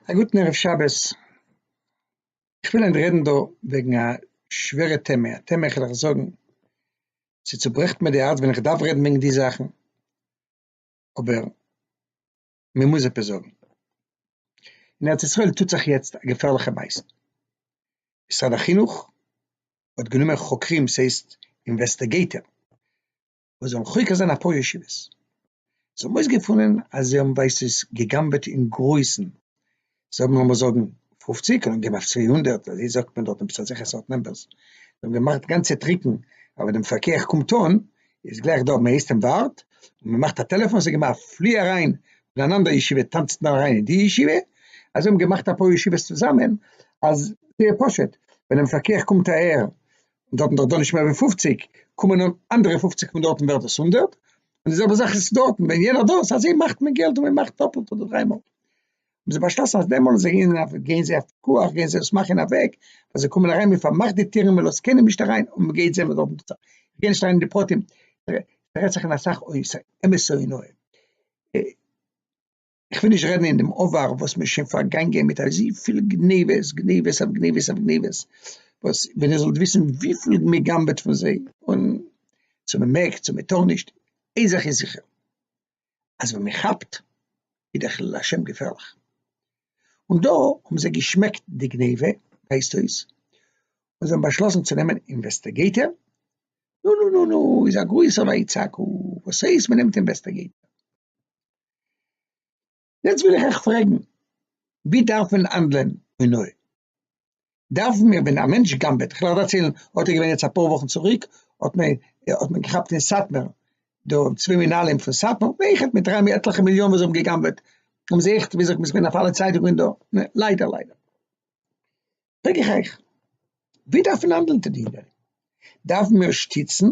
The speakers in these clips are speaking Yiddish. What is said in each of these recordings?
א גוטן ערב שבת, איך וויל היינט רעדן דא וועגן א שווערע טעמע, א טעמע איך וועל עס זאגן ס'צוברעכט מיר די הארץ ווען איך דארף רעדן וועגן די זאכן, אבער מען מוז עפעס זאגן, אין ארץ ישראל טוט זיך יעצט א געפערליכע מעשה, משרד החינוך האט גענומען חוקרים ס'הייסט אינוועסטעגעיטער, וואס זאלן חוקר זיין אפאר ישיבות, זיי האבן אויסגעפונען אז זיי האבן ווייסט וואס גע'גנב'עט אין גרויסן, זיי האבן לאמיר זאגן פופציג, קען אנגעבן אויף צוויי הונדערט, אזוי זאגט מען דארט עפעס אזעלכע סארט נומבערס, זיי האבן געמאכט גאנצע טריקן, אבער ווען דעם פקח קומט אן איז גלייך דא, מען הייסט אים ווארט, און מען מאכט א טעלעפאן, זאג אים א פלי אריין אין אן אנדער ישיבה, טאנצט מען אריין אין די ישיבה, אזוי האבן געמאכט אפאר ישיבות צוזאמען, אז זייער פשוט, ווען דעם פקח קומט אהער און דארטן דארט דאן נישט מער ווי פֿופֿציק, קומען אן אנדערע פֿופֿציק פון דארטן ווערט עס הונדערט, און די זעלבע זאך איז דארטן, ווען יענער דאס, אזוי מאכט מען געלט און מען מאכט דאפלט אדער דריי מאל. האבן זיי באשלאסן אז דעמאלס זיי גייען אויף גייען זיי אויף פיקוח, גייען זיי עס מאכן אין א וועג אז זיי קומען אריין, מען פארמאכט די טירן, מען לאזט קיינעם נישט אריין, און מען גייט זען וואס דארטן טוט זיך, איך גיי נישט אריין אין די פרטים, ס'רעדט זיך אין אסאך אויס, אמת'ע און אויב. איך וויל נישט רעדן אין דעם עבר וואס מ'איז שוין פארגאנגען מיט אזויפיל גניבות, גניבות אויף גניבות אויף גניבות, וואס ווען איר זאלט וויסן וויפיל מ'גנב'עט פון זיי, און צו מ'מעג צו מ'טאר נישט, איין זאך איז זיכער, אז ווען מ'כאפט איז דער חילול השם געפערליך. און דא האבן זיי געשמעקט די גניבה, הייסט אויס, און זיי האבן באשלאסן צו נעמען אינוועסטיגעיטער, נו נו נו נו איז א גרויסער ויצעקו, וואס הייסט מ'נעמט אינוועסטיגעיטער? יעצט וויל איך אייך פרעגן, ווי דארף מען האנדלען און אויב דארף מען, ווען א מענטש גנב'עט, איך וועל דערציילן, האט ער געווען יעצט אפאר וואכן צוריק, האט מען האט מען געכאפט אין סאטמער, דא צוויי מנהלים פון סאטמאר, אויכעט מיט דריי עטליכע מיליאן וואס זיי האבן געגנב'עט, האבן זיי אויכעט ווי אזוי מ'איז געווען אויף אלע צייטונגען דא, ליידער ליידער, פרעג איך אייך, ווי דארף מען האנדלען טוט איר דארף מען שטיצן,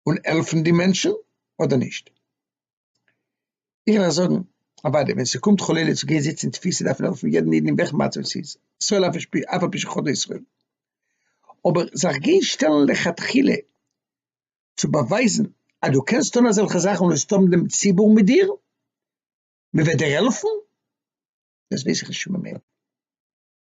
און העלפן די מענטשן אדער נישט? איך וועל זאגן, אוודאי, ווען ס'קומט חלילה צו גיין זיצן אין תפיסה דארף מען העלפן יעדן איד אין וועלכע מצב עס איז, ישראל אף על פי שחטא ישראל, אבער זיך גיין שטעלן לכתחילה צו באווייזן אז דו קענסט טון אזעלכע זאכן און וועסט האבן דעם ציבור מיט דיר, מ'וועט דיר העלפן, דאס ווייס איך נישט פון מיין מענטש.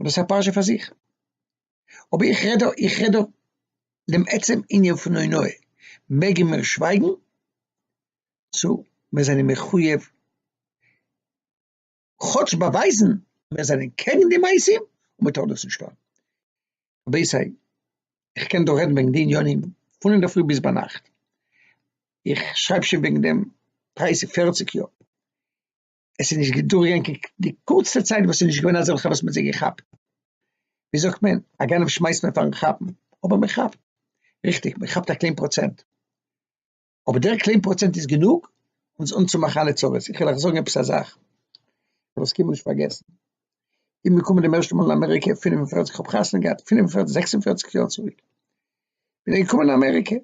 און דאס איז א פרשה פאר זיך, אבער איך רעד דא, איך רעד דא דעם עצם ענין פון הונאה, מעגן מיר שווייגן צו מיר זענען מחוייב כאטש באווייזן אז מיר זענען קעגן די מעשים און מען טאר דאס נישט טון? רבי זיי, איך קען דא רעדן וועגן די ענינים פון אינדערפרי ביז ביינאכט, איך שרייב שוין וועגן דעם דרייסיג פערציג יאר, עס איז נישט געדורך געגאנגען קיין די קורצטע צייט וואס ס'איז נישט געווען אזעלכע וואס מען האט זיי געכאפט, ווי זאגט מען, א גנב שמייסט מען פארן כאפן, אבער מען כאפט, ריכטיג מען כאפט א קליין פראצענט, אבער דער קליין פראצענט איז גענוג אונז אנצומאכן אלע צרות, איך וועל אייך זאגן עפעס א זאך, איך וועל עס קיינמאל נישט פארגעסן, איך בין געקומען דעם ערשטן מאל אין אמעריקע פֿינף און פֿערציק, כ'האב חתונה געהאט פֿינף און פֿערציק, זעקס און פֿערציק יאר צוריק, בין איך געקומען אין אמעריקע,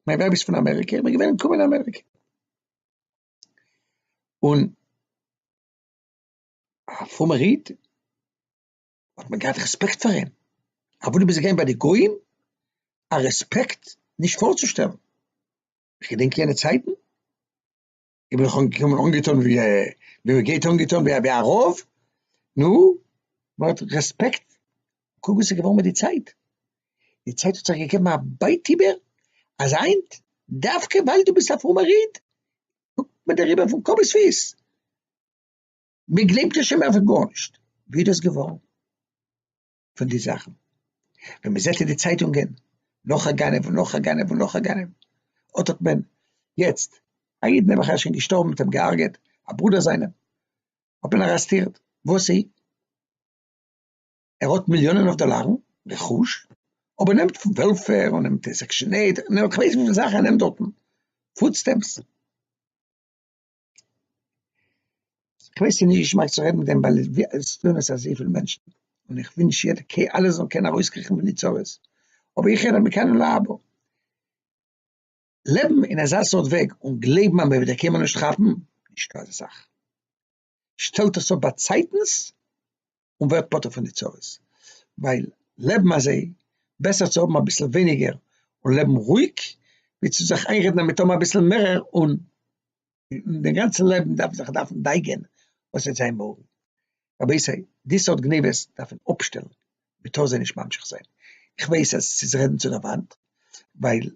מיין ווייב איז פון אמעריקע, איך בין געווען אין קומען אין אמעריקע, און א פרומער איד האט מען געהאט רעספעקט פאר אים, אוואו דו ביסט געווען ביי די גוים, א רעספעקט נישט פארצושטעלן, איך געדענק יענע צייטן, איך בין נאך אנגעקומען אנגעטון ווי מען גייט אנגעטון ווי א רב, נו, מען האט רעספעקט קוק וואס איז געווארן מיט די צייט, די צייט האט זיך געגעבן א בייט איבער, אז היינט דווקא ווייל דו ביסט א פרומער איד קוקט מען דיר איבער פון קאפ ביז פיס, מען גלייבט דיר שוין מער פאר גארנישט, ווי איז דאס געווארן פון די זאכן, ווען מען זעט אין די צייטונגען נאך א גנב און נאך א גנב און נאך א גנב, אט האט מען יעצט א איד נעבעך ער שוין געשטארבן מען האט אים געהארגעט א ברודער זיינעם האט מען ארעסטירט, וואסי? ער האט מיליאנען אויף דאלארן רכוש, אבער נעמט פון וועלפעיר און נעמט די סעקשען עיט, און נעמט כ'ווייס וויפיל זאכן ער נעמט דארטן, פוד סטעמפס. כ'ווייס ס'איז נישט געשמאק צו רעדן מיט דעם ווייל עס טוען עס אזויפיל מענטשן, און איך ווינטש יעדע קעי אלע זאלן קענען ארויסקריכן פון די צרות, אבער איך רעד מכאן און להבא. לעבן אין אזא סארט וועג און גלייבן אז מ'וועט דיר קיינמאל נישט כאפן, נישטא אזא זאך. שטעלט עס אפ באצייטנס און ווערט פטור פון די צרות, ווייל לעבן אזוי, בעסער צו האבן אביסל ווייניגער און לעבן רואיג, ווי צו זיך איינרעדן אז מען טאר האבן אביסל מערער און די גאנצע לעבן דארף זיך דארפן דייגען וואס וועט זיין מארגן. רבותי, די סארט גניבות דארף מען אפשטעלן, מען טאר זיי נישט ממשיך זיין, איך ווייס אז עס איז רעדן צו דער וואנט, ווייל